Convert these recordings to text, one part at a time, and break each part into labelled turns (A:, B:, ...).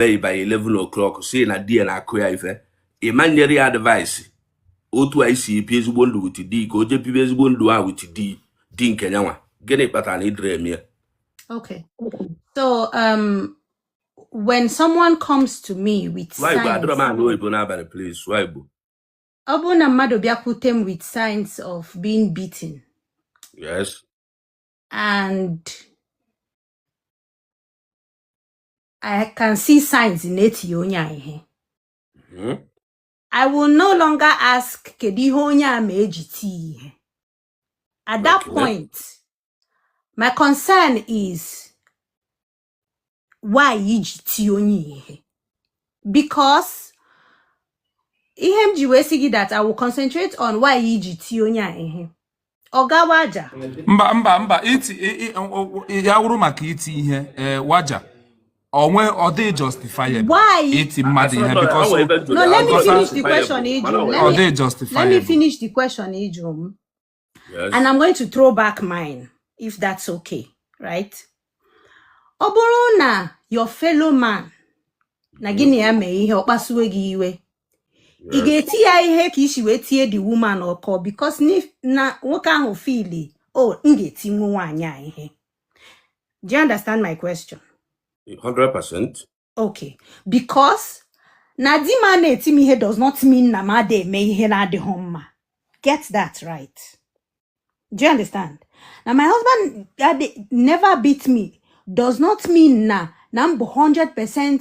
A: bee by 11 o'clock sị na di ya na-akụ ya ife ị ma nyere ya advice otu e si ebi ezigbo ndụ with di ka o jee bibe ezigbo ndụ a with di di nke nyanwa gịnị kpatara na ị dịrọ eme ya Okay. So um when someone comes to me with sụọ igbo adịrọ m signs, anụ oyibo n'abalị please sụọ igbo ọ bụrụ na mmadụ bịakwute m with signs of being beaten yes and I can see signs na e tiri onye a ihe Mhm. I will no longer ask kedu ihe onye a mee e ji tie ihe at that Okay. point my concern is why e ji tie onye ihe because ihe m ji wee sị gị that I will concentrate on why e ji tie onye a ihe ọ gawa aja mba mba mba iti i- i- o- o- ya wụrụ maka iti ihe ee, waja onwe ọ dị justifiable Why? iti mmadụ ihe because no let me Because finish the question ị jụrụ ọ let dị me let me justifiable finish the question ị jụrụ m and I'm going to throw back mine if that's okay right ọ bụrụ na your fellow man na gị na ya mee ihe ọ kpasuwe gị iwe ị ga-eti ya ihe ka i si wee tie the woman ọkwa because na nwoke ahụ feel o oh, m ga-etinwu nwaanyị a ihe do you understand my question 100% okay because na di m ana-eti m ihe does not mean na m ada eme ihe na-adịghị mma get that right do you understand na my husband never beat me does not mean na na m bụ 100%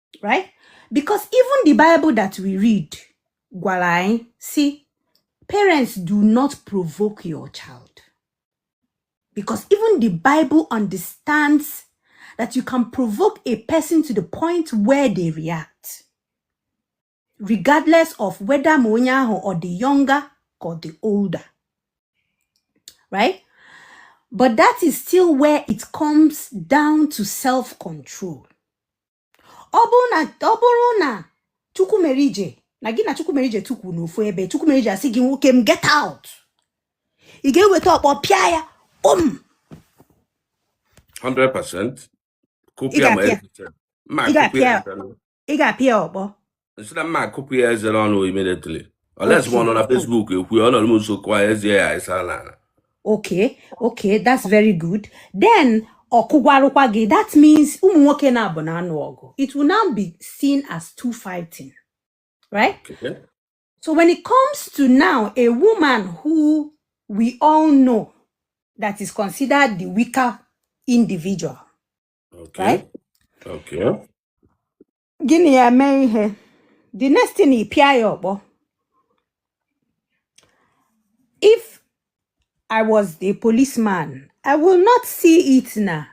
A: right because even the bible that we read gwara anyị si parents do not provoke your child because even the bible understands that you can provoke a person to the point where they react regardless of whether ma onye ahụ ọ dị younger ka ọ dị older right but that is still where it comes down to self control ọ bụrụ na ọ bụrụ na Chukwumerije na gị na Chukwumerije tukwu n'ofu ebe Chukwumerije asị gị nwoke m get out ị ga-eweta ọkpọ pịa ya um 100% kụpịa ma ị ga-apịa ị ga-apịa ya ọkpọ m sị na m ga-akụpụ ya eze n'ọnụ immediately unless ma ọ nọ na Okay. Facebook ekwu ya ọ nọrọ m nso kwuo ya eze ya ịsa n'ala okay okay that's very good then ọ kụgwarụkwa gị that means ụmụ nwoke naabọ na-anụ ọgụ it will now be seen as two fighting right Okay? so when it comes to now a woman who we all know that is considered the weaker individual Okay. right Okay. gị na ya mee ihe the next thing ị pịa ya ọkpọ if I was the policeman, I will not see it now.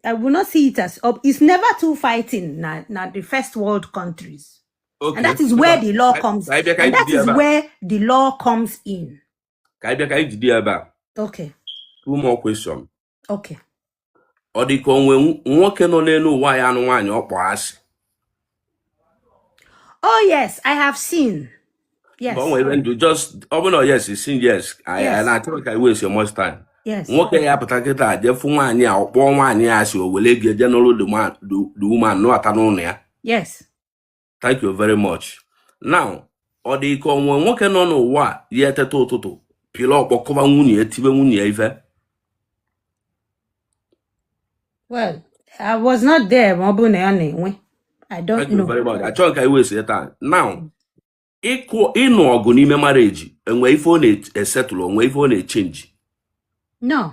A: I will not see it as up. It's never two fighting na the first world countries. And Okay. that is where Ngwa, the law ka comes. ka anyị bịa ka And anyị that jide ya is ebe a. where the law comes in. Ka anyị bịa ka anyị jide ya ebe a. Okay. Two more question. okay ọ dị ka o nwe nwoke nọ n'enu ụwa ya-anụ nwaanyị ọ kpọ asị oh yes i have seen yes ọ nwere ndị just ọ bụrụ na yes sin yes i na-achọrọ ka i we so much time nwoke ya-apụta kịta je fụ nwaanyị a ọ kpọọ nwaanyị a asị o were ga je nụrụ the woman nụbata n'ụnọ ya yes thank you very much now ọ dị ka o nwe nwoke nọ n'ụwa ya-eteta ụtụtụ pịla ọkpọ kụba nwunye ya tibe nwunye ya ife well i was not there ma ọ bụrụ na ya na-enwe i don't thank you know very much achọghị ka i we sie taa now ịkụ ịnụ ọgụ n'ime marriage e nwe ife ọ na-esettle o nwe ife ọ na-echenji no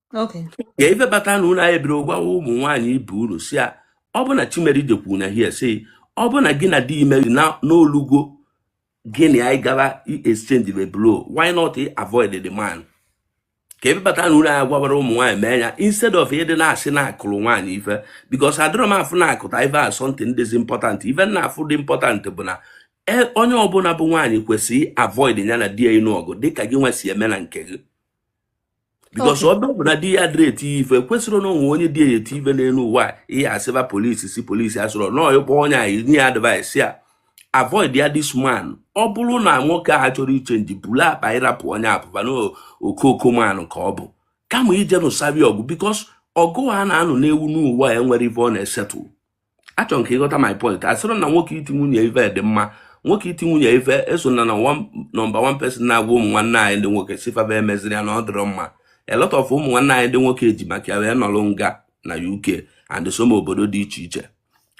A: Okay. ka ife bata na unu anyị biri gwawa ụmụ nwaanyị ibe unu sị ya ọ bụ na chimeri jekwuru na hie si ọ bụ na gị na di imeri na o lugo gị na ya ga i exchange the blow why not i avoid the man ka ebe bata na unu anyị gwawara ụmụ nwaanyị mee ya instead of ịdị na-asị na a kụrụ nwaanyị ife because adịrọ m afụ na akụta ife as something dịzi important ife m na-afụ dị important bụ na e- onye ọbụla bụ nwaanyị kwesịrị avoid ya na di ya ịnụ ọgụ dịka gị nwa si eme na nke gị because ọ bụrụ na di ya dịrị eti ya ife kwesịrị na o nwe onye di ya eti ife n'enu ụwa ihe asịba police sị police asịrọ no ịkpọ onye a nye ya advice ya avoid ya this man ọ bụrụ na nwoke a achọrọ ichenji buru akpa ị rapụ onye a pụba na okooko man ka ọ bụ kama ije nụsaba ọgụ because ọgụ a na-anụ n'enu ụwa enwerọ ife ọ na-esettle achọrọ m ka ị ghọta my point asịrọ m na nwoke iti nwunye ife dị mma nwoke iti nwunye ife eso m na number one person na-agwa ụmụ nwanne anyị ndị nwoke sị fa ba emezina ya na ọ dịrọ mma a lot of ụmụ nwanne anyị ndị nwoke eji maka ya wee nọrọ nga na UK and some obodo dị iche iche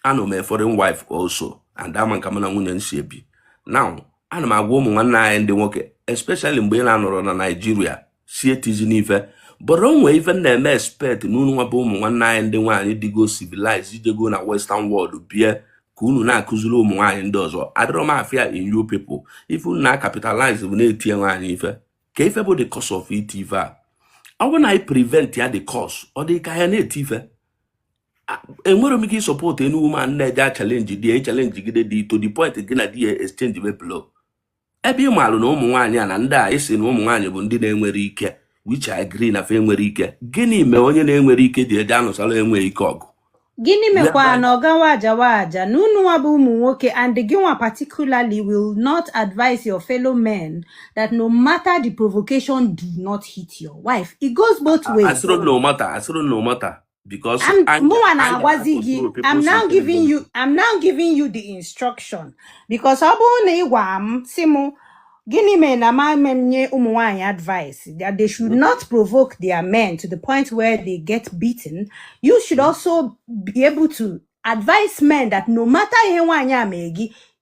A: anụ m a foreign wife also and ama m ka mụ na nwunye m si ebi now ana m agwa ụmụ nwanne anyị ndị nwoke especially mgbe ị na-anọrọ na Nigeria sị etizina ife but o nwe ife m na-expect na unu nwa bụ ụmụ nwanne anyị ndị nwaanyị dịgo civilized jego na western world bie ka unu na-akụziri ụmụ nwaanyị ndị ọzọ adịrọ m afụ ya in you people ife unu na-acapitalize bụ na e tie nwaanyị ife kee ife bụ the cause of iti ife a ọ bụrụ na anyị prevent ya the cause ọ dị ka ya na-eti ife enwerọ m ike ịsupport any woman na-eje achalenji di ya ịchalenji gide di to the point gị na di ya exchange be blow ebe ị maalụ na ụmụ nwaanyị a na ndị a esi na ụmụ nwaanyị bụ ndị na-enwere ike which I agree na fa enwere ike gịnị mee onye na-enwere ike ji eje anụsara enweghị ike ọgụ gịnị mekwa na ọ gawa aja wa aja na unu nwa bụ ụmụ nwoke and gị nwa particularly will not advise your fellow men that no matter the provocation do not hit your wife it goes both ways asịrị no matter asịrị no matter because I'm anya mụnwa anya na-agwazi gị na-akọntrol I'm people's now giving intelligence you I'm now giving you the instruction because ọ bụrụ na ị gwara m si m gịnị mere na m ama enye ụmụ nwaanyị advice that they should not provoke their men to the point where they get beaten you should also be able to advise men that no matter ihe nwaanyị a mere gị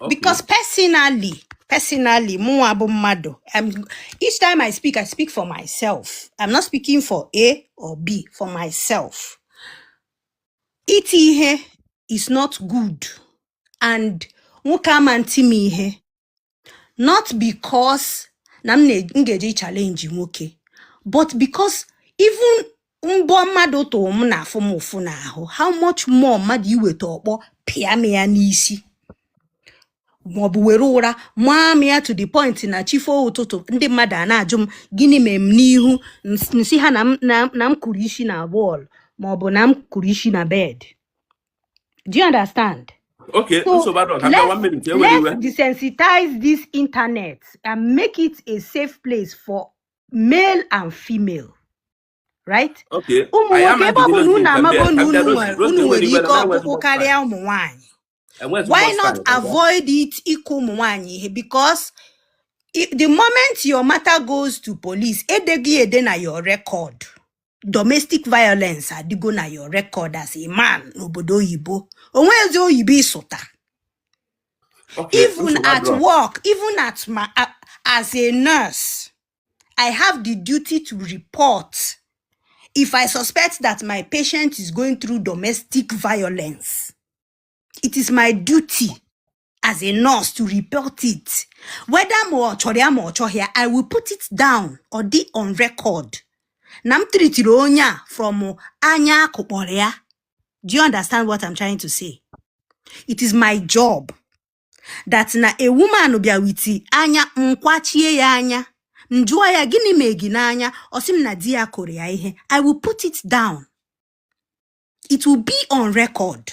A: Okay. because personally personally mụnwa bụ mmadụ I'm, each time i speak i speak for myself i'm not speaking for a or b for myself iti ihe is not good and nwoke ama nti m ihe not because na m na- m ga-eje challenge nwoke but because even mbọ mmadụ tụrụ m na-afụ m ụfụ n'ahụ how much more mmadụ iweta ọkpọ pịa m ya n'isi maọbụ were ụra maa m ya to the point na chi fo ụtụtụ ndị mmadụ ana-ajụ m gịnị mere m n'ihu m s- m sị ha na m na- na m kụrụ isi na wall maọbụ na m kụrụ isi na bed do you understand okay So nsogbu adịrọ ka m bịa one let's minute ewela iwe let's desensitize this internet and make it a safe place for male and female right Okay. ụmụ Anyị nwoke ebe ọ bụ amagidela na unu ozi nke amago na unu nwere unu nwere ike ọkpụkpụ karịa ụmụ nwaanyị Enweghị why not bọstandị. avoid it ịkụ ụmụ nwaanyị ihe because i- the moment your matter goes to police e dee gị ede na your record domestic violence adịgo na your record as a man n'obodo oyibo onwezi oyibo ịsụta Okay, even nsogbu at adịrọ. work even at my a- as a nurse i have the duty to report if i suspect that my patient is going through domestic violence it is my duty as a nurse to report it whether ma ọ chọrọ ya ma ọ chọghị ya i will put it down ọ dị on record na m tritiri onye a from anya a kụkpọrọ ya do you understand what i'm trying to say it is my job that na a woman bịa with anya m kwachie ya anya m jụọ ya gịnị mee gị n'anya ọ sị m na di ya kụrụ ya ihe i will put it down it will be on record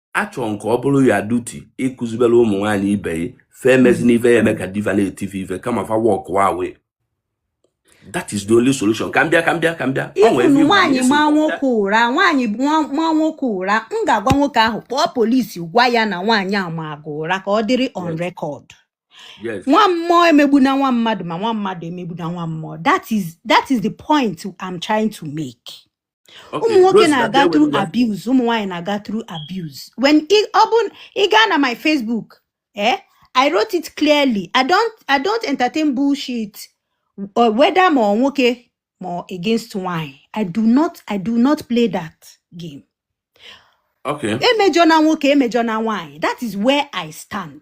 A: a chọrọ nke ọ bụrụ ya duty ịkụzibere ụmụ nwaanyị ibe ya fa emezina ife ya-eme ka di fa na-eti fa ife kama fa walk away that is the only solution ka m bịa ka m bịa ka m bịa ị fụnụ nwaanyị maa nwoke ụra nwaanyị maa nwoke ụra m ga-agwa nwoke ahụ kpọọ polisi gwa ya na nwaanyị a mara gị ụra ka ọ dịrị on record nwa mmụọ emegbuna nwa mmadụ ma nwa mmadụ emegbuna nwa mmụọ that is that is the point I'm trying to make. ụmụ nwoke na-aga through abuse ụmụ nwaanyị na-aga through abuse when ọ bụ ị gaa na my Facebook eh I wrote it clearly I don't I don't entertain bullshit uh, whether ma nwoke ma against nwanyị I do not I do not play that game okay emejọna nwoke emejọna nwanyị that is where I stand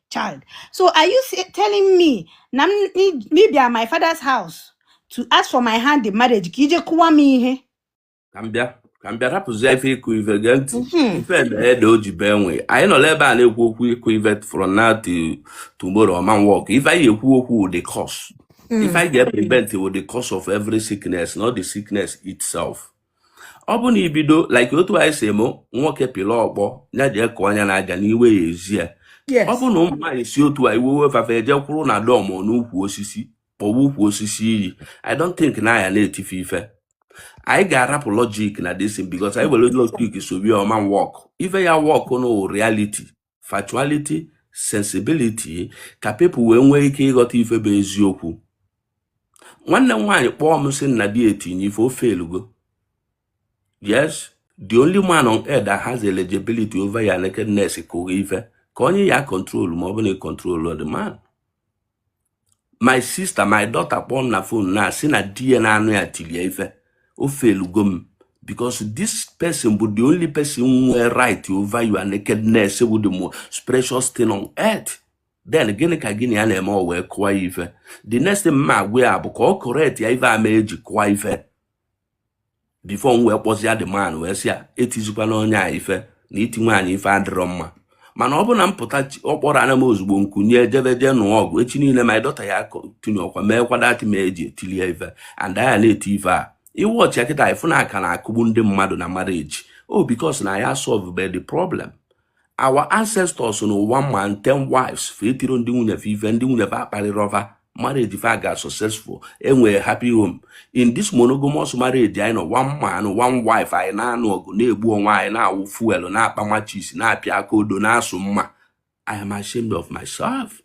A: child. So are you say, telling me na m i- me bịa my father's house to ask for my hand in marriage ka i je kụwa m ihe? ka m bịa ka m bịa rapụzie ife ịkụ ife gee ntị Mhm. ife emee da o ji bee nwe anyị nọ n'ebe a na-ekwu okwu ịkụ ife from now to tomorrow ọ ma work ife anyị ekwu okwu wụ the cause ife Mm. anyị ga-prevent wụ the cause of every sickness not the sickness itself ọ bụ na ibido like otu anyị si eme nwoke pịla ọkpọ ya ji ekụ anya na aja n'iwe ya ezi ya ọ bụ na ụmụ nwaanyị si otu a iwe wee fa fa eje kwụrụ na dọm n'ukwu osisi kpọwa ukwu osisi iyi i don't think na a ya na-eti fa ife anyị ga-arapụ logic na this thing because anyị were logic solve ya ọ ma work ife ya work na reality factuality sensibility ka people wee nwee ike ịghọta ife bụ eziokwu nwanne m nwaanyị kpọọ m sị na di etie ya ife o felugo yes the only man on earth that has eligibility over your nakedness kụ ghị ife ka onye ya control ma ọ bụ na ị control the man my sister my daughter kpọọ m na phone na-asị na di ya na-anụ ya tili ya ife o felugo m because this person bụ the only person nwee right over your nakedness bụ the most precious thing on earth then gịnị ka gịnị ya na-eme o wee kụwa ya ife the next thing ma agwa ya bụ ka ọ correct ya ife ama eji kụwa ife before m wee kpọzie the man wee sị ya etizikwana onye a ife na iti nwaanyị ife adịrọ mma mana ọ bụ na m pụta ọ kpọrọ ana m ozugbo m kunie jebe jee nụọ ọgụ echi niile my daughter ya continue kwa meekwa that thing e ji etili e ife and a ya na-eti ife a ị watchie kịta ị fụ na a ka na-akụgbu ndị mmadụ na marriage oh, because na ya solve the problem our ancestors nụwa ma ten wives fa etiro ndị nwunye fa ife ndị nwunye fa akparịrọ fa marriage fa aga successful e nwee happy home in this monogamous marriage anyị nọ one man one wife anyị na-anụ ọgụ na-egbu onwe anyị na-awụ fuel na-akpa matches na-apịa aka odo na-asụ mma I am ashamed of myself.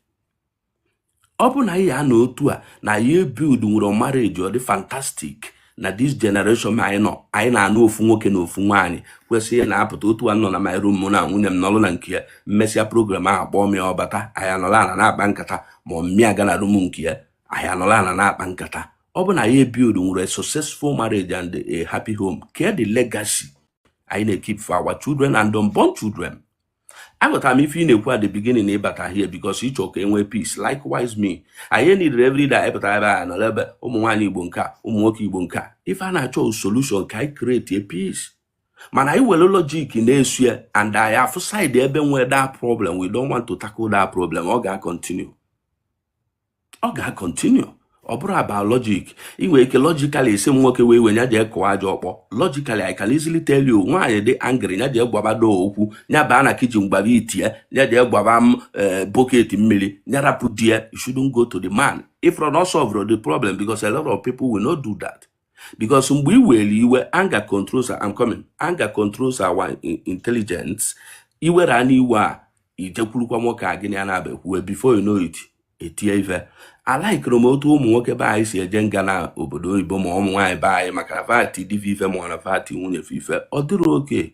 A: ọ bụ na anyị ya na otu a na anyị ebuild nwero marriage dị fantastic na this generation anyị nọ anyị na-anụ ofu nwoke na ofu nwaanyị kwesịrị na-apụta otu a nọ na my room mụ na nwunye m nọrọ na nke ya m mesịa program ahụ kpọọ m ya ọ bata anyị anọla ana na-akpa nkata ma ọ mụ aga na room nke ya anyị anọla ana na-akpa nkata ọ bụ na anyị ebuild nwero a successful marriage and a happy home kedu legacy anyị na-ekeep for our children and unborn children aghọtara m ife ị na-ekwu at the beginning ị bata here because ị chọọ ka e nwee peace likewise me anyị nidere every day ị pụta ebe a nọrọ ebe ụmụ nwaanyị igbo nke a ụmụ nwoke igbo nke a ife a na-achọ solution ka anyị createe peace mana anyị were logic na-eso ya and anyị afụ side ebe e nwee that problem we don't want to tackle that problem ọ ga-acontinue ọ ga-acontinue ọ bụrọ about logic i nwere ike logically ịsị m nwoke wee iwe ya jee kụọ aja ọkpọ logically I can easily tell you nwaanyị dị angry ya jee gwaba door okwu ya baa na kitchen gwaba ite ya jee gwaba eh, bucket mmiri ya rapụ di ya you shouldn't go to the man it will not solve the problem because a lot of people will not do that because mgbe i were iwe anger controls I'm coming anger controls our intelligence i were a n'iwe a i jekwurukwa nwoke a gị na ya na-aba ekwuwe before you know it e tie ife alikerọ m otu ụmụ nwoke be anyị si eje nga na obodo oyibo ma ụmụ nwaanyị be anyị maka na va ti di va ife ma ọ na va ti nwunye fa ife ọ dịrọ okay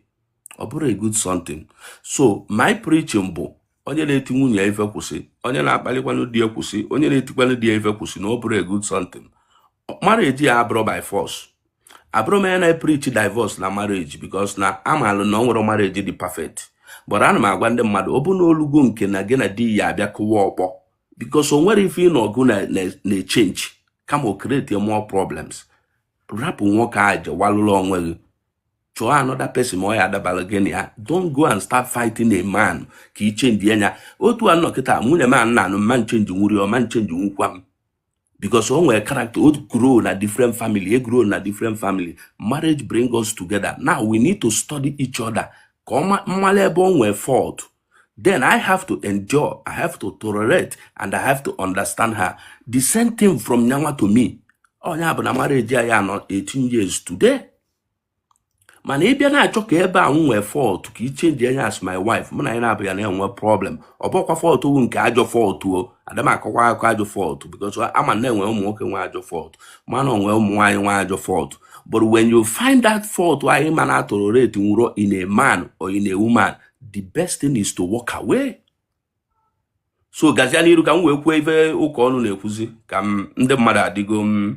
A: ọ bụrọ a good something so my preaching bụ onye na-eti nwunye ya ife kwụsị onye na-akpalikwanụ di ya kwụsị onye na-etikwanụ di ya ife kwụsị na ọ bụrọ a good something marriage abụrọ by force abụrọ m onye na-preach divorce na marriage because na amalụ m na o nwerọ marriage dị perfect but ana m agwa ndị mmadụ ọ bụ na o lugo nke na gị na di ya abịa kụwa ọkpọ because o nwerọ ife ịnụ ọgụ na-echenji kama o create more problems rapụ nwoke ahụ jewalụla onwe gị chọọ another person ma ọ ya-adabara gị na ya don't go and start fighting a man ka i chenjie nya otu a nọ kịta nwunye m na-anụ m ma nchenjinwu ya ọ ma nchenjinwukwa m because o nwere character o grow na different family m grow na different family marriage bring us together now we need to study each other ka ọ ma- m mara ebe o nwere fault then i have to endure i have to tolerate and i have to understand her the same thing from nya nwa to me ọ nya bụ na marriage anyị anọọ 18 years today mana ị bịa na-achọ ka ebe a m nwee fault ka i chenjie nya as my wife mụ na nya naabụ ya na-enwe problem ọ bụkwa fault bụ nke ajọ fault o ada m akọkwa akụkọ ajọ fault because ama m na e nwe ụmụ nwoke nwe ajọ fault mana o nwe ụmụ nwaanyị nwe ajọ fault but when you find that fault anyị ma na a toleratenwurọ in a man or in a woman the best thing is to walk away so gazia n'iru ka m wee kwuo ife ụka ọnụ na-ekwuzi ka m ndị mmadụ adịgo m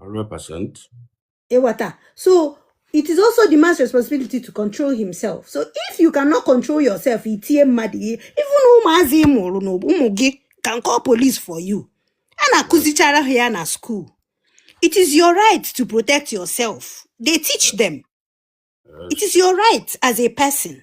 A: 100%. Ewata. So it is also the man's responsibility to control himself. So if you cannot control yourself, itie mmadụ ihe, even ụmụazị ị mụrụ na ụmụ gị can call police for you. A na-akụzichara ha ya na school. It is your right to protect yourself. They teach them. It is your right as a person.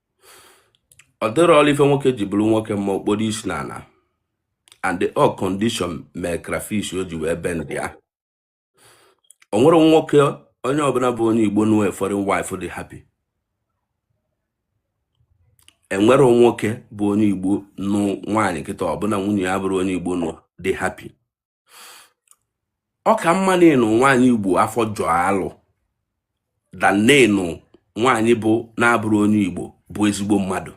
A: ọ dịrị ọrụ ife nwoke ji bụrụ nwoke makpudo isi na ana and eh ọ condition mee crayfish o ji wee bendie o nwere nwoke onye ọbụla bụ onye igbo nụ foreign wife dị happy e nwere nwoke bụ onye igbo nụ nwaanyị kịta ọbụla nwunye ya abụrọ onye igbo nụ dị happy ọ ka mma na ịnụ nwaanyị Igbo afọ jọọ alụ than ịnụ nwaanyị bụ na-abụrọ onye Igbo bụ ezigbo mmadụ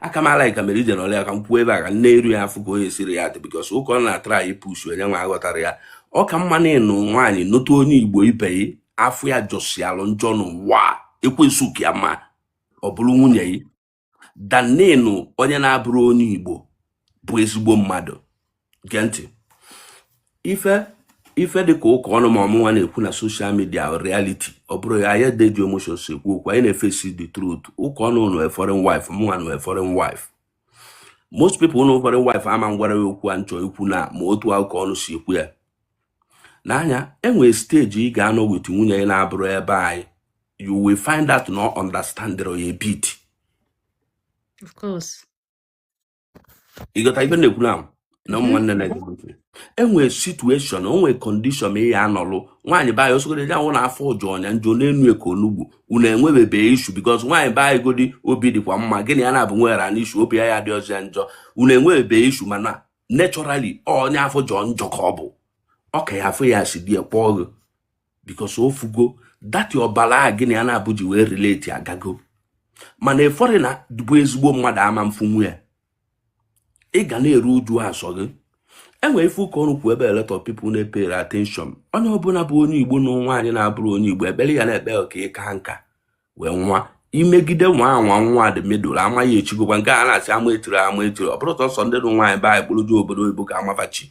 A: aka m ala ka mere ije n'ọlụ ya ka m kwuo ebe a ka nne eru ya afụ ka onye siri ya dị because Ukọnụ na-atry ịpush onye nwa aghọtara ya ọ ka mma na ịnụ nwaanyị nụta onye Igbo ibe gị afọ ya jọsialụ njọ n'ụwa ekwensu ka ya mma ọ bụrụ nwunye gị than ịnụ onye na-abụrọ onye igbo bụ ezigbo mmadụ gee ntị ife ife dị ka Ukọnụ ma ọ mụnwa na-ekwu na social media reality ọ bụrọ ya anyị dị ji emotion si ekwu okwu anyị na-efesi the truth Ukọnụ nwe foreign wife mụnwa nwe foreign wife most people nụ foreign wife ama ngwa gị okwu a m chọ ikwu na ma otu Ukọnụ si ekwu ya na nya enwere stage ị ga-anọ with nwunye gị na-abụrọ be anyị you will find out na ọ understand ya bit of course ị ghọta ife m na-ekwu na na ụmụ nwanne na enwere situation onwere condition ma ị ya anụlụ nwaanyị be anyị ọ sọgodi ya bụ na afọ jọ nya njọ na-enu ka onugbu unu enwebebe issue because nwaanyị baa godi obi dịkwa mma gị na ya na-abụ nwere ana issue obi ya ya dị ọzọ ya njọ unu enwebebe issue mana naturally onye afọ jọ njọ ka ọ bụ ọ ka ya afọ ya si di ya kpọọ gị because ọ fụgo that your ọbara gị na ya na-abụ ji wee relate agago mana a foreigner bụ ezigbo mmadụ ama mfunwu ya ị ga na-eru uju asọ gị enwere ife Ukọnụ kwu very little people na-epere attention onye ọbụla bụ onye igbo nụ nwaanyị na-abụrọ onye igbo ekpere ya na-ekpe ka ị kaa nka wee nwa imegide nwa anwa nwa dị medụl ama gị echigokwa nke a na-asị ama echiri ama echiri ọ bụrọ sọsọ ndị nụ nwaanyị be anyị kpọrọ je obodo oyibo ka ama fa chi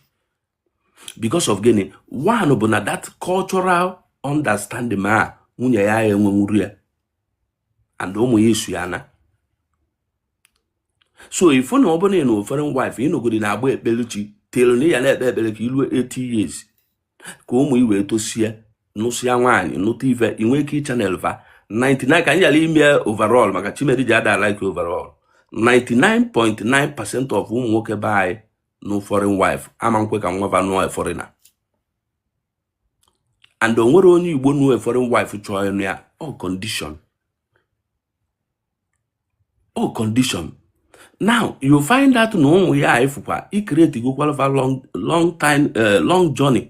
A: because of gịnị one bụ na that cultural understanding ma nwunye gị enwenwurọ ya and ụmụ gị eso ya naa so if na ọ bụ na ị nụ foreign wife ị nọgodi na-agba ekpeluchi tinyere na ya na-ekpe ekpere ka i ruo 80 years ka ụmụ gị wee tosie nụsịa nwaanyị nụta ife i nwee ike ịchannel va 99 ka anyị yara ime overall maka chimeri ji ada like overall 99.9 percent of ụmụ nwoke be anyị nụ foreign wife ama nkwe ka nwa va nụọ foreigner and o nwerọ onye igbo nụọ foreign wife chọọ ịnụ ya all condition all condition now you find out na ụmụ ya ifụkwa ị creatigokwalụ va long long time eh, long journey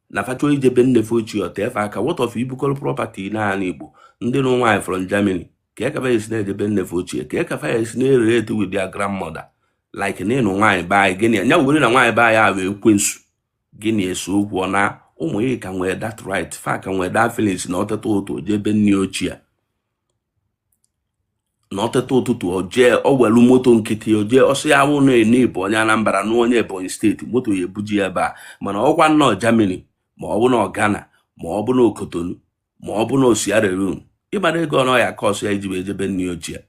A: na fa chọ ije be nne fa ochie ọ taa fa aka what of ibukọrọ property n'anị igbo ndị nụ nwaanyị from Germany kee ka fa esi na-eje be nne fa ochie kee ka fa esi na-erelate with their grandmother like na ịnụ nwaanyị be anyị gịnị ya were na nwaanyị be anyị ahụ ekwensu gịnị eso okwu ọ na ụmụ ya ka nwee that right fa ka nwee that feelings na ọ teta ụtụtụ jee be nne ochie na ọ teta ụtụtụ o jee o welu moto nkịtị o jee ọsọ ya wụ na-ene bụ onye Anambra na onye Ebonyi steeti moto ya ebuje ya ebe a mana ọ kwa ọ nọ Germany ma ọ bụ na Ghana ma ọ bụ na Cotonou ma ọ bụ na Sierra Leone ị mara ego one ọ ya-akọsụ ya iji wee jee be nne ochie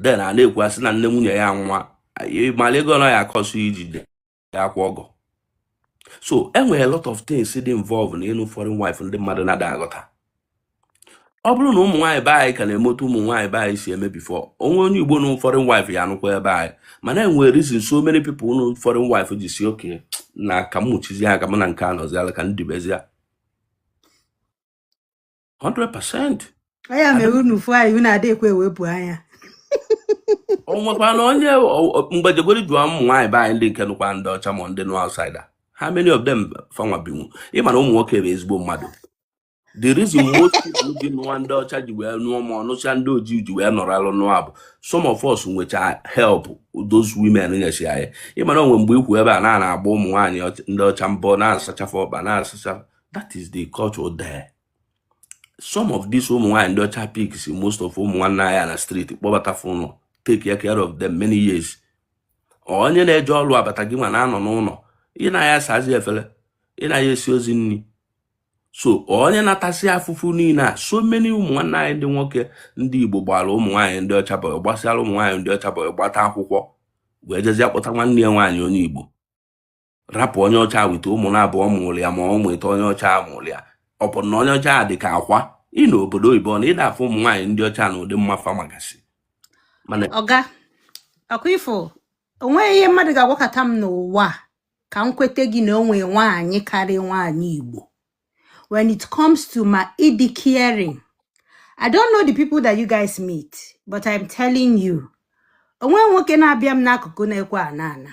A: then a na-ekwu a sị na nne nwunye ya nwụọ ị mara ego one ọ ya-akọsụ iji jee akwa ọgọ so e nwere lot of things dị involve na ịnụ foreign wife ndị mmadụ na-ada aghọta ọ bụrụ na ụmụ nwaanyị be anyị ka na-eme etu ụmụ nwaanyị be anyị si eme before o nwee onye Igbo nụ foreign wife ya anụkwa ebe anyị mana e nwere reason so many people nụ foreign wife ji sị okay na ka m mụchizi ya ka m na nke a nọziala ka m dibezie 100% anya mere unu fụ anyị unu adị ekwe ewepụ anya o nwekwa na onye o- o- mgbe jegweri jụọ ụmụ nwaanyị be anyị ndị nke nụkwa ndị ọcha ma ndị nụ outsider how many of them fa nwa binwu ị mara ụmụ nwoke bụ ezigbo mmadụ the reason most people ji nụwa ndị ọcha ji wee nụọ ma ọnụcha ndị ojii ji wee nọrọ alụ nụọ bụ some of us nwecha help those women nyesi anyị ị mara o nwee mgbe ikwu ebe a na na-agba ụmụ nwaanyị ọcha- ndị ọcha bọyị na-asacha fa ọkpa na-asacha that is the culture there some of these ụmụ nwaanyị ndị ọcha picks most of ụmụ nwanne anyị na street kpọbata fa n'ụnọ take care of them many years onye na-eje ọrụ abata gị nwa na-anọ n'ụlọ ị na ya asazi efere ị na ya esi ozi nri so onye na-atasị afụfụ niile a so many ụmụ nwanne anyị ndị nwoke ndị Igbo gbara ụmụ nwaanyị ndị ọcha bọyị gbasịara ụmụ nwaanyị ndị ọcha bọyị gbata akwụkwọ wee jezie kpọta nwanne ya nwaanyị onye Igbo rapụ onye ọcha with ụmụ na abụọ mụrụ ya ma ọ bụ atọ onye ọcha mụrụ ya ọ bụ na onye ọcha dị ka akwa ị nọ obodo oyibo na ị da afụ ụmụ nwaanyị ndị ọcha na ụdị mma fa magasị mana ọga ọ kwa ị fụ o nweghị ihe mmadụ ga-agwakata m n'ụwa a ka m kweta gị na o nwee nwaanyị karịa nwaanyị Igbo when it comes to mma ịdị caring i don't know the people that you guys meet but i'm telling you o nwee nwoke na-abịa m n'akụkụ na-ekwe ana ana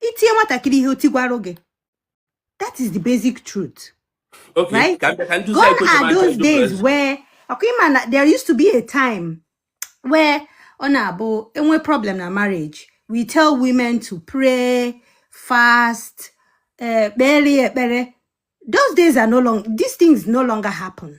A: i tie nwatakịrị ihe o tigwara gị that is the basic truth okay right? ka ka ndị gone are those days where ọ kwa ị ma na there used to be a time where ọ na-abụ e nwee problem na marriage we tell women to pray fast eh, kpere ekpere those days are no longer these things no longer happen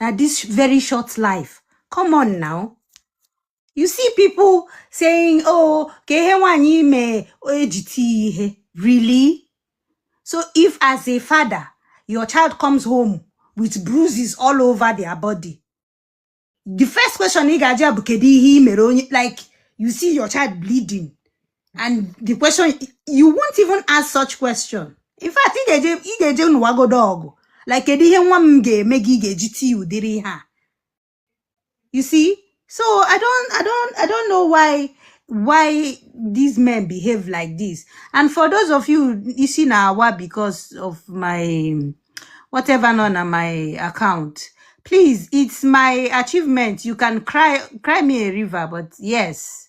A: na this very short life come on now you see people saying oh ka ihe nwaanyị ime eji tii ihe really so if as a father your child comes home with bruises all over their body the first question ị ga-ajụ ya bụ kedu ihe i mere onye like you see your child bleeding and the question you won't even ask such question in fact ị ga-eje ị ga-eje nụwagodo ọgụ like kedu ihe nwa m ga-eme gị ị ga-eji tii ụdịrị ihe a you see so i don't i don't i don't know why why these men behave like this and for those of you isi na awa because of my whatever nọ na my account please it's my achievement you can cry cry me a river but yes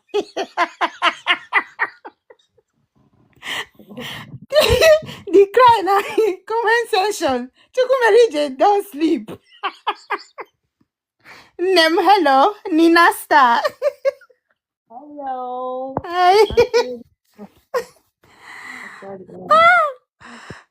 A: the cry na comment section chukwu mere ije don sleep nne m hello nina star Hello. Hi. Sorry,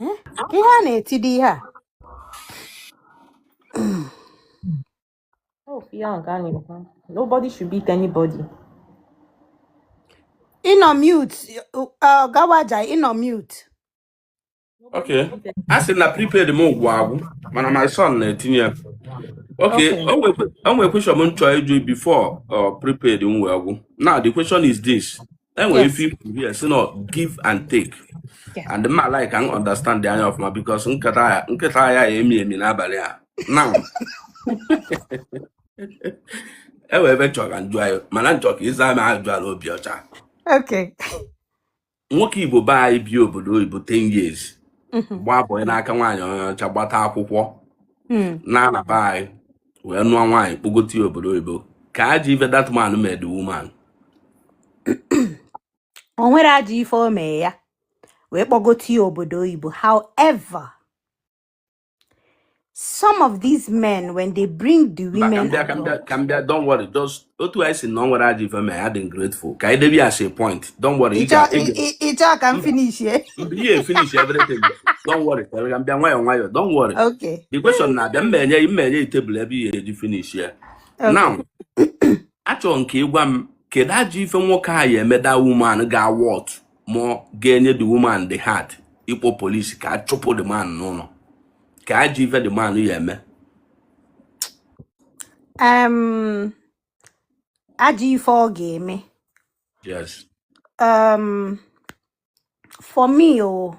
A: Eh? Ihe a na-etide ihe a. Oh, ihe ahụ ka a na-ekwu. Nobody should beat anybody. Ị nọ mute, ọ gawaja ị nọ mute. Nobody Okay. should beat a sị na prepaid m gwụ agwụ mana my son na-etinye ya. Okay, Okay. o nwekwe o nwekwe question m chọọ ịjụ before uh, prepaid m wee gwụ. Now the question is this. enwere Yes. ife i kwu here sị na give and take Yeah. and ma like ka m understand the anya ọfụma because nkata a nkata a ya-emi emi n'abalị a now e nwee ife m chọrọ ka m jụọ anyị mana m chọ ka ị za m ajụjụ a n'obi ọcha Okay. nwoke igbo be anyị bi obodo oyibo 10 years Mhm. gbaa bọị n'aka nwaanyị onye ọcha gbata akwụkwọ Mm. naa na be anyị wee nụọ nwaanyị kpọgote ya obodo oyibo kee ajọ ife that man mee the woman o nwere ajọ ife o mee ya wee kpọgote ya obodo oyibo however some of these men when they bring the mba ka women m bịa ka m bịa abroad ka m bịa don't worry just otu anyị sị na o nwere ajọ ife ma ya dị grateful ka anyị debe ya as a point don't worry ị ga- ị ga- ị chọ ka m Mba. finish ya mba ihe finish everything don't worry ka m bịa nwayọọ nwayọọ don't worry okay the question na-abịa mma enye mma enye tebụl ebe ihe eji finish ya okay now achọrọ m ka ị gwa m kedu ajọ ife nwoke a ya-eme the woman ga-a warrant ma ọ ga-enye the woman the heart ịkpọ polisi ka a chụpụ the man n'ụlọ kee ajọ ife the man ya-eme um, ajọ ife ọ ga-eme yes um, for me o oh,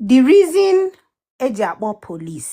A: the reason eji akpọ police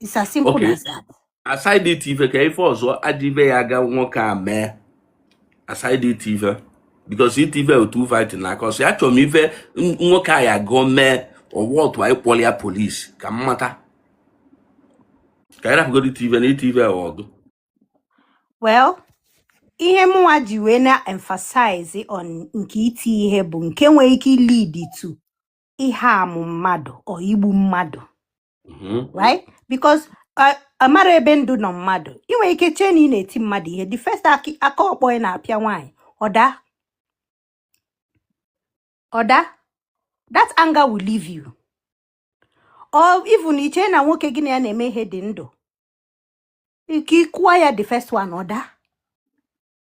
A: It's as simple Okay. as that. aside iti ife ka ife ọzọ aja ife ya aga nwoke a mee aside iti ife because iti ife otu fight na aka ọsọ ya chọrọ m ife n- nwoke a ya gụọ mee ọwa otu anyị kpọrọ ya polisi ka m mata ka anyị rapụgodo iti ife na iti ife a ọgụ Well, ihe mụnwa ji wee na-emphasize on nke iti ihe bụ nke nwere ike lead to ị-harm mmadụ or igbu mmadụ. mm-hmm. right because uh, amara ebe ndụ nọ mmadụ ị nwere ike chee na ị na-eti mmadụ ihe the first aki- aka ọkpọ ị na-apịa nwaanyị ọ daa ọ daa that anger will leave you or even i chee na nwoke gị na ya na-eme ihe dị ndụ ike ị kụwa ya the first one ọ daa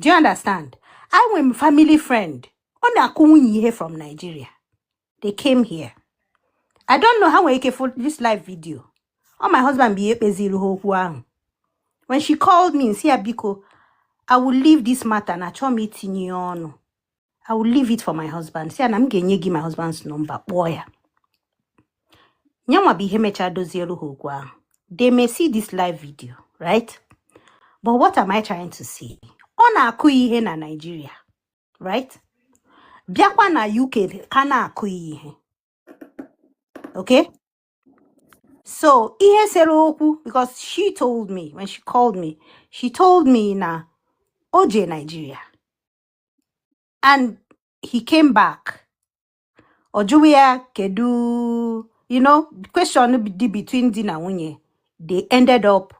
A: do you understand enwere m family friend ọ na-akụ nwunye ihe from Nigeria they came here I don't know ha nwere ike fụ this live video ọ my husband bụ ihe kpeziri ha okwu ahụ when she called me m sị ya biko I will leave this matter na achọọ m itinye ya ọnụ I will leave it for my husband sị ya na m ga-enye gị my husband's number kpọọ ya nyanwa bụ ihe mechaa dozieru ha okwu ahụ they may see this live video right but what am I trying to say ọ na-akụ ya ihe na Nigeria right bịakwa na UK ka na-akụ ya ihe okay so ihe sere okwu because she told me when she called me she told me na o jee Nigeria and he came back ọ jụwa ya kedu you know question dị between di na nwunye they ended up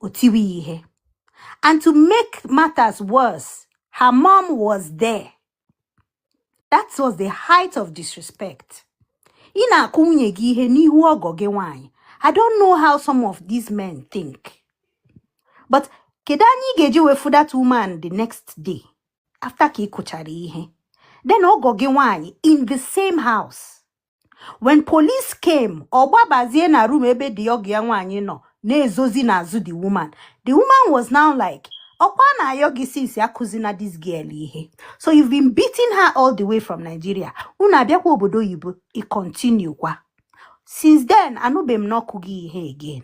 A: o tiwe ihe and to make matters worse her mom was there that was the height of disrespect ị na-akụ nwunye gị ihe n'ihu ọgọ gị nwaanyị i don't know how some of these men think but kedu anya ị ga-eji wee fụ that woman the next day after ka ị kụchara ihe then ọgọ gị nwaanyị in the same house when police came ọ gbabazie na room ebe the ọgọ ya nwaanyị nọ na-ezozi n'azụ the woman the woman was now like ọkwa a na-ayọ gị since akụzina this girl ihe so you've been beating her all the way from Nigeria unu abịakwa obodo oyibo i continue kwa since then anụbeghị m na ọ kụ ya ihe again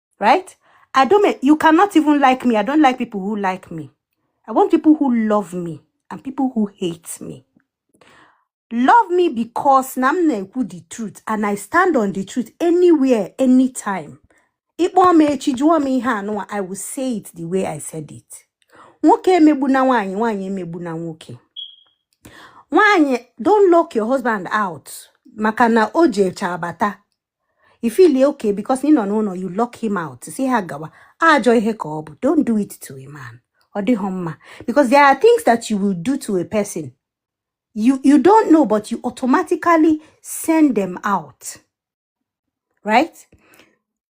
A: right i don't make, you cannot even like me i don't like people who like me i want people who love me and people who hate me love me because na m na-ekwu the truth and i stand on the truth anywhere anytime ịkpọọ m echi jụọ m ihe anụwa i will say it the way i said it nwoke emegbu na nwaanyị nwaanyị emegbu na nwoke nwaanyị don't lock your husband out maka na o ji eche abata you feel e okay because ị nọ n'ụlọ you lock him out si ha gawa ajọ ihe ka ọ bụ don't do it to a man ọ dịghị mma because there are things that you will do to a person you you don't know but you automatically send them out right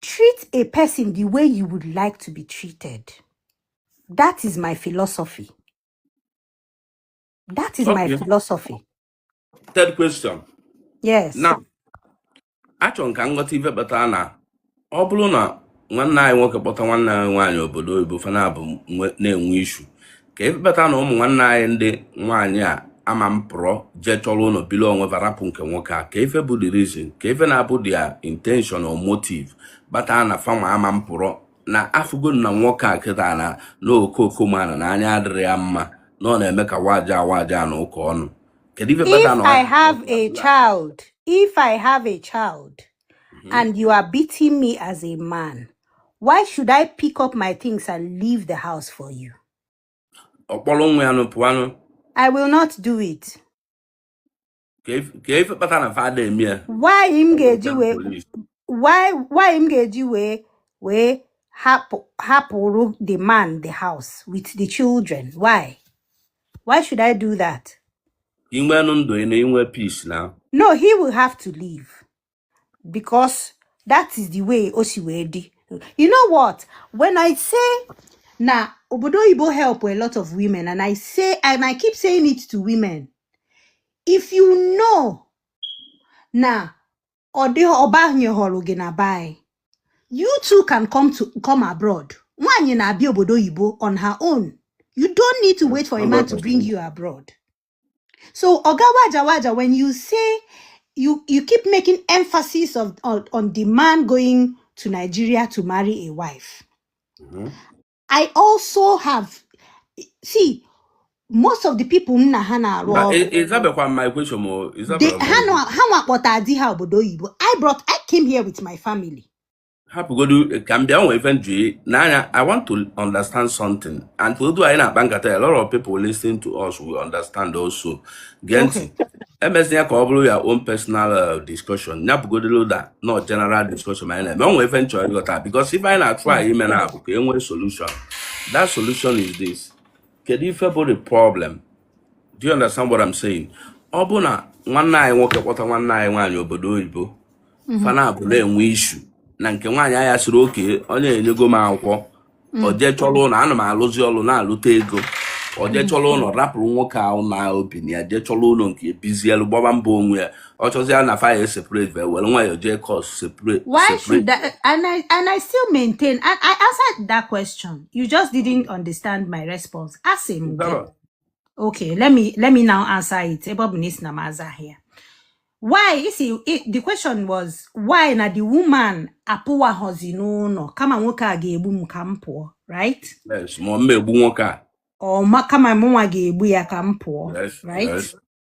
A: treat a person the way you would like to be treated that is my philosophy that is my philosophy third question yes na achọrọ m ka m ghọta ife kpatara na ọ bụrụ na nwanne anyị nwoke kpọta nwanne anyị nwaanyị obodo oyibo fa naabọ nwe- na-enwe issue ka ife kpatara na ụmụ nwanne anyị ndị nwaanyị a amapụrụ jee chọrọ ụnọ bili onwe fa rapụ nke nwoke a ka ife bụ the reason ka ife na-abụ their intention or motive kpatara na fanwa amapụrụ na afụgo na nwoke a kịta na na okooko mana na anya adịrọ ya mma na ọ na-eme ka waja waja na ụka ọnụ kedu ife kpata If na I have a ọdịnala child, if I have a child and you are beating me as a man, why should I pick up my things and leave the house for you? ọ kpọrọ nwa ya nụ pụọ nụ I will not do it. ka ife ka ife kpata na fa ada eme ya why m ọ bụ ga-eji ten wee polis why why m ga-eji wee wee hapụ hapụrụ the man the house with the children why why should I do that inwenụ ndụ ị na inwe peace na no he will have to leave because that is the way o si wee dị you know what when i say na obodo oyibo help a lot of women and i say and i keep saying it to women if you know na ọ dịghị ọbanye họrọ gị na be anyị you too can come to come abroad nwaanyị na-abịa obodo oyibo on her own you don't need to wait for a man to bring you abroad So, Oga Waja Waja, when you say you you keep making emphasis of on, on the man going to Nigeria to marry a wife. Mhm. I also have see most of the people na ha na-arụ But ọrụ ị- ịzabekwa my question ma ọ- they ịzabara ha my nọ ha nwa kpọta di ha obodo oyibo I brought I came here with my family hapụgodu ka m bịa nwee ife nju n'anya i want to understand something and otu anyị na-akpa nkata a lot of people listening to us will understand also gee ntị emezi ya ka ọ bụrụ your own personal uh, discussion ya bụgodoro da no general discussion ka anyị na-eme o nwe ife m chọrọ ịghọta because ife anyị na-atụ anya ime na abụ ka e nwee solution that solution is this kedu ife bụ the problem do you understand what I'm saying ọ bụ na nwanne anyị nwoke kpọta nwanne anyị nwaanyị obodo oyibo mm-hmm. fa naabọ na-enwe issue na nke nwaanyị a ya sịrị okay onye enyego m akwụkwọ mm. ọ jee chọrọ ụlọ ana m alụzi ọlụ na-alụta ego ọ jee mm. chọrọ ụlọ rapụrụ nwoke a ụlọ o bi na ya jee chọrọ ụlọ nke ya bizielu gbaba mbọ onwe ya ọ chọzịa na fa ya separate wee were nwayọọ jee court separate Why separate should that? And I and I still maintain. And I answered that question. You just didn't understand my response. Ask him again. Dara, Okay, let me let me now answer it. Ebe ọ bụ na ị sị na m azaghị ya. Why? You see, it, the question was why na the woman apụwaghọzi n'ụlọ kama nwoke a ga-egbu m ka m pụọ, right? yes ma ọ m egbu nwoke a Ọ ma kama mụnwa ga-egbu ya ka m pụọ, yes right? yes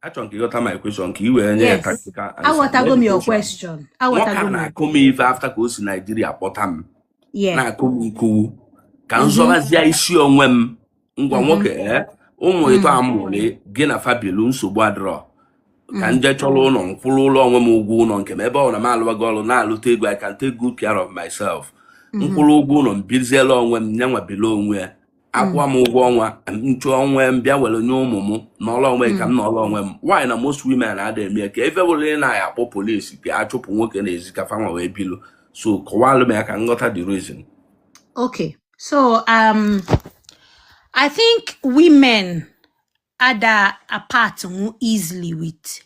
A: achọrọ m ka ị ghọta my question ka i wee nye ya yes practical answer aghọtago m your education question nwoke a aghọtago m your na-akụ m ife after ka o si Nigeria kpọta m yeah na-akụ m m kwuo ka m mhm zọbazie isi onwe m ngwa mhm nwoke ee ụmụ ịtọ mm a mụrụ gị na fa bilu nsogbu adịrọ ka mm m jee chọrọ ụlọ m kwụọlụ onwe m ụgwọ ụlọ nke m ebe ọ na m alụwago ọrụ na-alụta ego I can take good care of myself m mhm kwụrụ ụgwọ ụlọ m biziela onwe m yanwa bili onwe ya akwụwa m ụgwọ ọnwa n'isi ọnwa m bịa were nye ụmụ m nọlụ onwe ị ka m hmm. nọlụ onwe m why na most women ada eme ya ka ewepụlụ na ha akpọ polisi ka a chụpụ nwoke n'ezi ka fanwa wee bilu so kọwalụ m ya ka m ghọta the reason okay so um i think women ada apart nwu easily with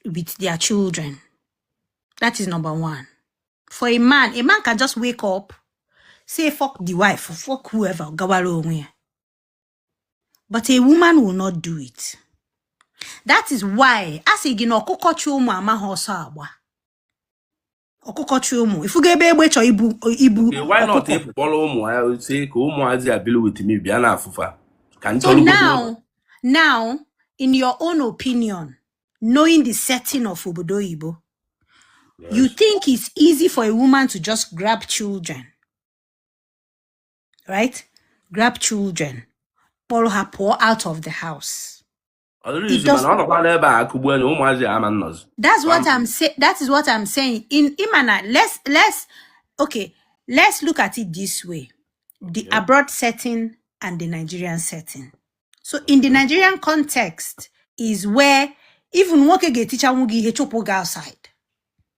A: with their children. That is number one. For a man, a man can just wake up, say fuck the wife, fuck whoever, gawalo onwe. But a woman will not do it. That is why as a gị na ọkụkọ chi ụmụ amaghị ọsọ agba. ọkụkọ chi ụmụ ifugo ebe egbe chọọ ibu ibu Eh, why not ọkụkọ ịpụ kpọrọ ụmụ ha si ka ụmụazị a bili with me bịa na afụfa ka m so chọrọ obodo ụlọ now now in your own opinion knowing the setting of obodo oyibo you yes think it's easy for a woman to just grab children right grab children kpọrọ ha pụọ out of the house Ọ dịrị It izu does mana ọ nọkwa n'ebe a akụgbu enyi ụmụazị ya ama nnọzi. That's what Ama. I'm saying. That is what I'm saying. Ị ma na, let's let's okay, let's look at it this way: the Okay. abroad setting and the Nigerian setting. So in the Okay. Nigerian context is where even nwoke ga-etichanwu gị ihe chụpụ gị outside.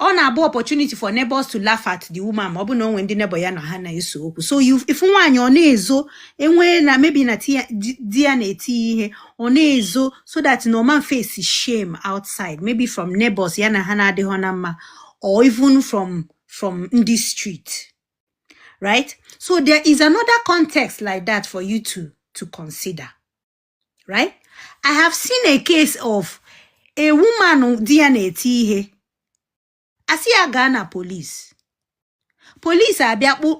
A: ọ na-abụ opportunity for neighbors to laugh at the woman ma ọ bụ na o nwe ndị neighbor ya na ha na-eso okwu so you- ị fụ nwaanyị ọ na-ezo enwee na maybe na di ya- di di ya na-eti ya ihe ọ na-ezo so that na ọ ma face shame outside maybe from neighbors ya na ha na-adịghọ na mma or even from from ndị street right so there is another context like that for you to to consider right i have seen a case of a woman di ya na-eti ihe a sị ya gaa na police police abịa kpụ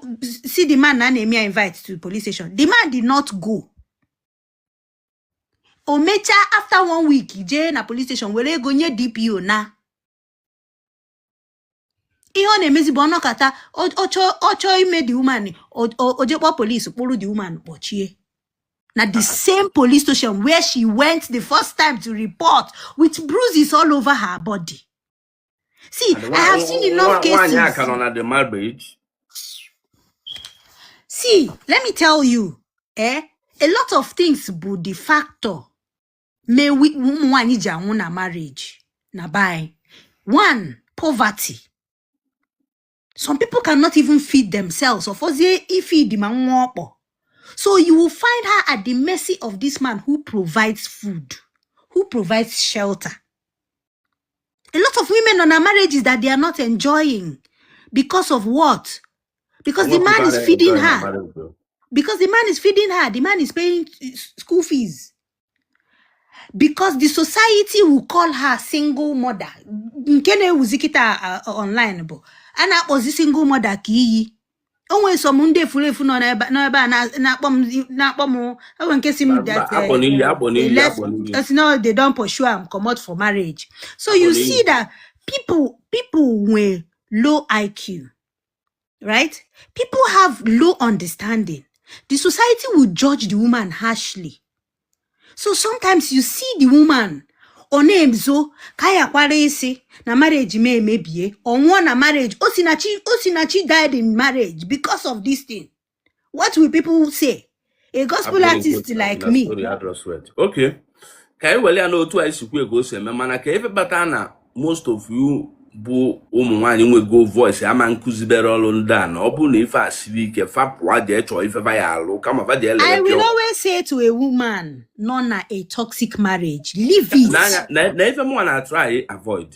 A: sị the man na a na-eme ya invite to the police station the man did not go o mechaa after one week jee na police station were ego nye dpo na ihe ọ na-emezi bụ ọ nọkata ọ chọọ ime the woman o jee kpọọ police kpụrụ the woman kpọchie na the same police station where she went the first time to report with bruises all over her body see i have seen enough cases see let me tell you eh a lot of things bụ the factor mee ụmụ nwaanyị ji anwụ na marriage na be anyị one poverty some people cannot even feed themselves ọfọzie ifeed ma nwa ọkpọ so you will find her at the mercy of this man who provides food who provides shelter a lot of women on our marriages that they are not enjoying because of what because the man is feeding her because the man is feeding her the man is paying school fees because the society will call her single mother nke na-ewuzi kịta uh, online bụ a na-akpọzi single mother ka iyi o nwere some ndị efuru efu nọ n'ebe n'ebe a na- na-akpọ m na-akpọ m e nwe nke sị m Mba, that akpọ n'ili, eh, akpọ n'ili, left akpọ n'ili. as now they don pursue am comot for marriage so you Akpọ n'ili. see that people people nwee low IQ right? People have low understanding. The society will judge the woman harshly. So sometimes you see the woman ọ na-ezo ka ya kwara isi na marriage ma emebie ọ nwụọ na marriage osinachi osinachi died in marriage because of this thing what will people say a gospel artist like me okay ka anyị were ya na otu anyị si kwuo ka o si eme mana ka ife kpata na most of you bụ ụmụ nwaanyị nwego voice ama nkụzibere ọrụ ndị a na ọ bụrụ na ife a siri ike fa pụwa jee chọọ ife va ya-alụ kama va jee I will always say to a woman nọ na a toxic marriage leave it. na ife mụnwa na-atry avoid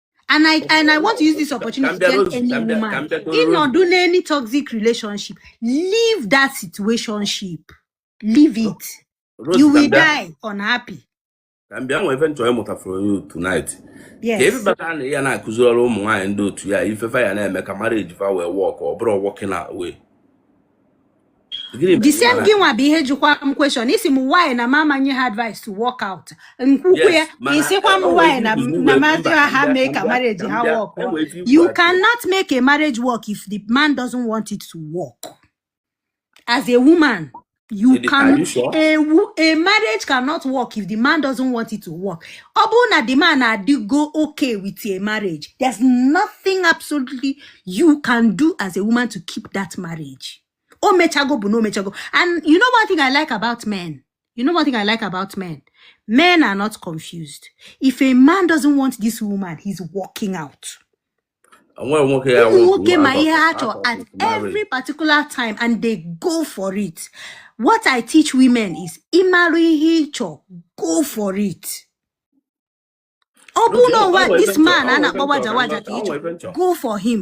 A: and I and I want to use this opportunity to tell any woman nọdụ in any toxic relationship, leave that situationship. Leave oh, it. Rose, you will die unhappy. ka m bịa nwee ife m chọrọ ịmụta from you tonight ka ebe bata na ya na-akụziri ọrụ ụmụ nwaanyị ndị otu ya ife fa ya na-eme ka marriage fa wee work ọ bụrụ wọkịna wee the same gị nwa bụ ihe jụkwa m question ị sị m why na m ama nye ha advice to walk out m kwukwaa ya ị sịkwa m why na ma zi ha mee ka marriage ha work you cannot make a marriage work if the man doesn't want it to work as a woman you can you sure? a, a marriage cannot work if the man doesn't want it to work ọ bụrụ na the man adịghọ okay with a marriage there's nothing absolutely you can do as a woman to keep that marriage o mechago bụ na o mechago and you know one thing i like about men you know one thing i like about men men are not confused if a man doesn't want this woman he's walking out nwa nwoke ya ụmụ wụ nwoke ma ihe ha out chọrọ of at his marriage every particular time and they go for it what i teach women is ịmarụ ihe ị chọrọ go for it ọ bụ na ụwa this man a na-akpa waja waja ka ị chọrọ go for him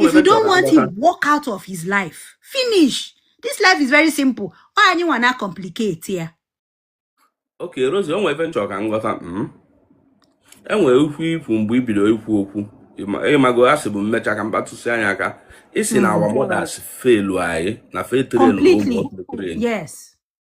A: if you don't want him walk out of his life finish this life is very simple ọ anyị nwa na complicate ya ok Rosie o nwere ife m chọ ka m ghọta hmm? e nwere okwu i kwu mgbe i bido ikwu okwu ị mago asịbu m mecha ka m kpatụsịa ya aka ị sị na our hmm. mothers failu anyị na fa trainu ụmụ yes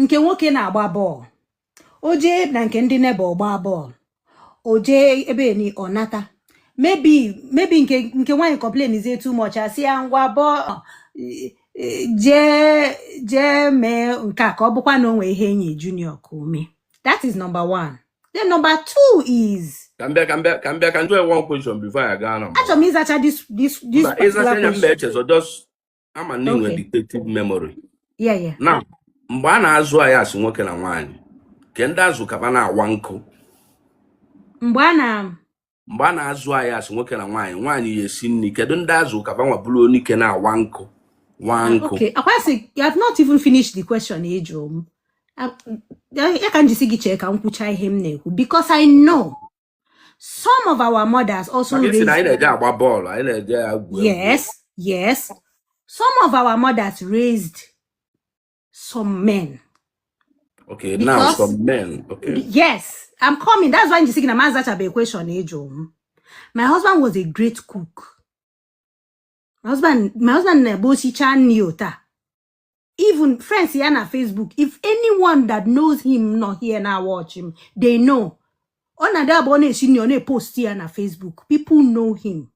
A: nke nwoke na-agba bọọlụ o jee na nke ndị neighbour gbaa bọọlụ o jee ebe ni ọ nata maybe maybe nke nke nwaanyị complainzie too much a sị ya ngwa bọọlụ jee jee mee nke a ka ọ bụkwa na o nwee ihe e nye junior ka o mee that is number one then number two is ka m bịa ka m bịa ka m bịa ka m jụọ one question before ị gaa na mbụ achọrọ m ịzacha this this this mba ị zachaa particular anya mba question echezọ just ama m na i nwe retentive memory na mgbe a na-azụ anyị as nwoke na nwaanyị kee ndị a zụ ka ba na-awa nkụ mgbe a na mgbe a na-azụ anyị as nwoke na nwaanyị nwaanyị ya esi nri kedu ndị a zụ ka ba nwa bụrụ onye nke na-awa nkụ wa ah, nkụ okay akwasị you have not even finished the question ị jụ m ah, ya ka m ji sị gị chee ka m kwụcha ihe m na-ekwu because I know some of our mothers also Maka ị sị raised na anyị na-eje agba bọọlụ anyị na-eje agwu egwu yes yes some of our mothers raised some men okay now because some men okay yes i'm coming that's why m ji sị gị na m azachabe question ị jụ m my husband was a great cook my husband my husband na-abụ o sichaa nri ota even friends ya na facebook if anyone that knows him nọ here na watch him they know ọ na-adị abụ ọ na-esi nri ọ na-epost ya na facebook people know him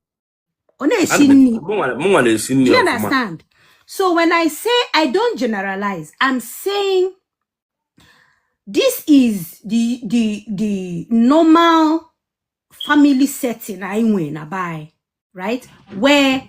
A: ọ na-esi nri mụnwa na-esi nri you understand so when i say i don't generalize i'm saying this is the the the normal family setting anyị nwere na be right where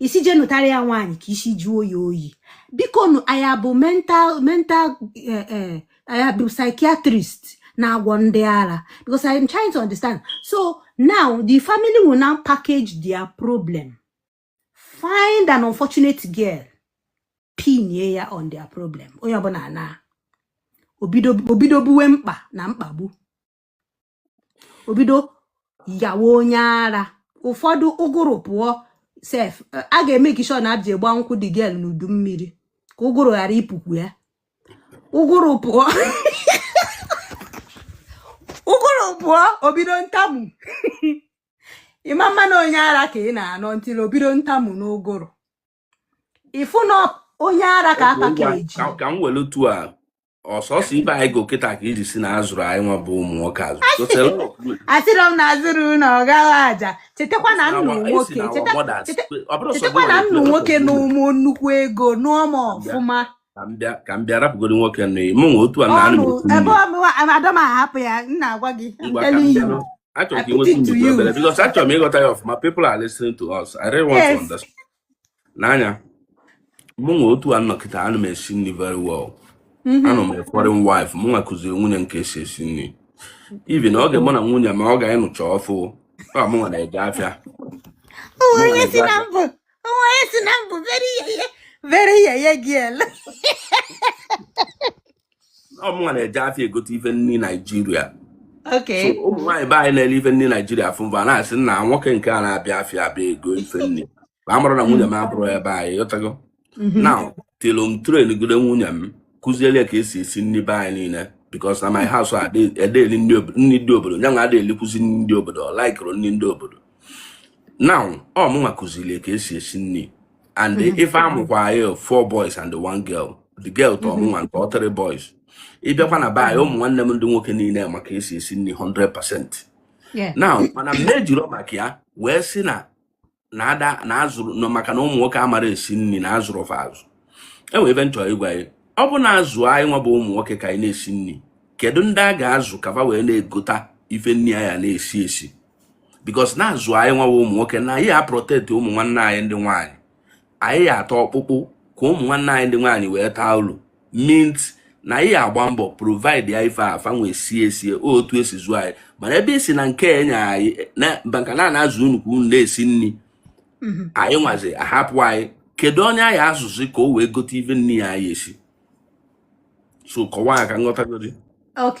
A: ị sị je nụtara ya nwaanyị ka isi jụọ ya oyi biko nụ ọ ya bụ mental mental eh, eh, ọ ya bụ psychiatrist na-agwọ ndị ara because I am trying to understand so now the family will now package their problem find an unfortunate girl pinye ya on their problem onye ọbụna ana o bido buwe mkpa na mkpagbu o bido yawa onye ara ụfọdụ ụgụrụ pụọ sef a ga-emake sure na a bịa gba nkwụ the girl n'udu mmiri ka ụgụrụ ghara ịpụkwu ya ụgụrụ pụọ ụgụrụ pụọ o bido ntamu ị ma na onye ara ka ị na-anọ ntịrị o bido ntamu n'ụgụrụ ị fụ na onye ara ka aka ka eji Ka- ka m welu tu a ọsọsọ ibe anyị go kịta ka ị ji sị na a zụrụ anyị nwa bụ ụmụ nwoke azụ So, tell us, look, asịrọ m na a zụrụ na ọ gaghị aja chetakwa na esi na nnụ our- esi nwoke na our cheta- mothers. cheta- Ọ bụrụ sọ chetakwa gị na nwere nnụ ike nwoke ịrapụ na gị. ụmụ nnukwu ego nụọ m ọfụma Ka m bịa- ka m bịa rapụgoro nwoke nụ mụ nwe otu a na anụ ọnụ ebe ọ bụ ada m ahapụ ya m na-agwa gị I'm ngwa ka m telling bịa you. nụ. Achọrọ ka inwekwu ndidi obere because achọrọ m ịghọta ya ọfụma people are listening to us I really want to understand n'anya mụ nwa otu a nọ kịta ana m esi nri very well mm-hmm. anụ m foreign wife mụ nwa kụziri nwunye m ka esi esi nri even oge mụ na nwunye m ka nụcha ọfụ ọ mụ nwa na-eje afịa onye si na mbụ onye si na mbụ very yeye very yeye girl ọ mụnwa na-eje afịa egote ife nri Nigeria okay so ụmụ nwaanyị be anyị na-ele ife nri Nigeria fụ m fa na-asị na nwoke nke a na-abịa afịa abịa ego ife nri ma amarọ na nwunye m abụrọ onye be anyị ghọtago Mhm. until m traingide nwunye m kụziele ya ka esi esi nri be anyị niile because na my house ede nri obodo nri ndị obodo nyanwa a da elikwuzi nri ndị obodo ọ likeụrụ nri ndị obodo now ọ mụnwa kụziri ka esi esi nri and mm-hmm. ife a mụkwa anyị four boys and one girl the girl tọọ mụnwa nke ọ three boys ị bịakwa na be anyị ụmụ nwanne m ndị nwoke niile ma ka esi esi nri 100 percent now mana mụ ejirọ maka ya wee sị na na ada na azụrụ nọ maka na ụmụ nwoke amara esi nri na a zụrụ fa azụ e nwe ife m chọrọ ịgwa ya ọ bụ na a zụọ anyị nwa bụ ụmụ nwoke ka anyị na-esi nri kedu ndị a ga-azụ ka fa wee na-egota ife nri anyị na-esi esi because na-azụ anyị nwa bụ ụmụ nwoke na anyị aprotect ụmụ nwanne anyị ndị nwaanyị anyị ataa ọkpụkpụ ka ụmụ nwanne anyị ndị nwaanyị wee taa ulu meat na anyị agba mbọ providea ife fa nwee sie sie otu esi zụọ anyị mana ebe ị sị na nke enye anyị maka na a na-azụ unu ka unu na-esi nri mhm. anyị nwazi ahapụ anyị kedu onye anyị azụzi ka o wee gote ife nri a anyị esi so kọwaa ka m ghọtagodi ok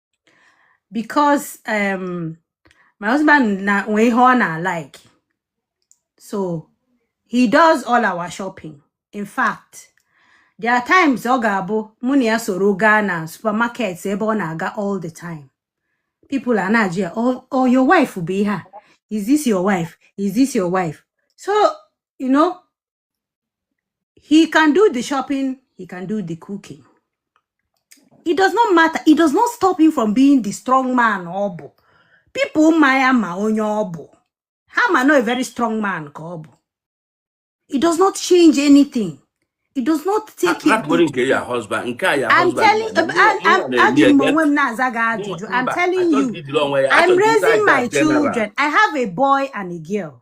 A: because um, my husband na nwee ihe ọ na-alike so he does all our shopping in fact there are times ọ ga-abụ mụ na ya soro gaa na supermarket ebe ọ na-aga all the time people a na-ajụ ya ọọ your wife bụ ihe a is this your wife is this your wife so you know He can do the shopping, he can do the cooking. It does not matter. It does not stop him from being the strong man ọ bụ. People ma ya ma onye ọ bụ. Ha ma na ọ a very strong man ka ọ bụ. It does not change anything. It does not take him. Akpọrọ nke ya husband, nke a ya husband. ihe ọ na-eme eme. I'm telling na- I'm, I'm, ejiri m onwe m na-aza gị ajụjụ. Mba, achọghị ijiri onwe ya, achọghị ịza ajụjụ general. I'm telling you, I'm raising my children. I have a boy and a girl.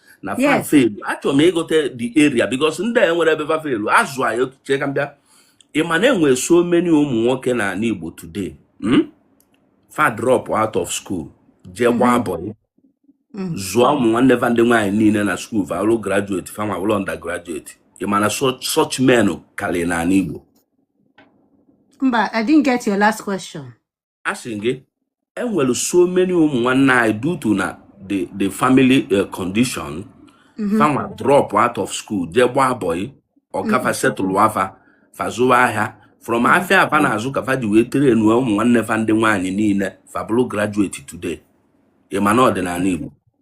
A: na fa feelu achọrọ m ịgo to the area because ndị a nwere ebe fa feelu azụ anyị otu chee ka m bịa ị ma na e nwe so many ụmụ nwoke na ala Igbo today hmm? fa drop out of school jee mm-hmm. gbaa bọyị mm-hmm. zụọ ụmụ nwanne va ndị nwaanyị niile na skuul va abụlụ graduate fanwa abụlụ undergraduate ị ma na such men karịrị n'ala Igbo mba I didn't get your last question asị m gị e nwere so many ụmụ nwanne anyị due to na the the family eh, condition mhm. fanwa drop out of school jee gbaa bọyị ọga fa mhm. setụlụa fa fa zụwa ahịa from mhm. afịa a fa na-azụ ka fa ji wee trainụa ụmụ nwanne fa ndị nwaanyị niile fa abụrụ graduate today ị ma na ọ dị n'ala Igbo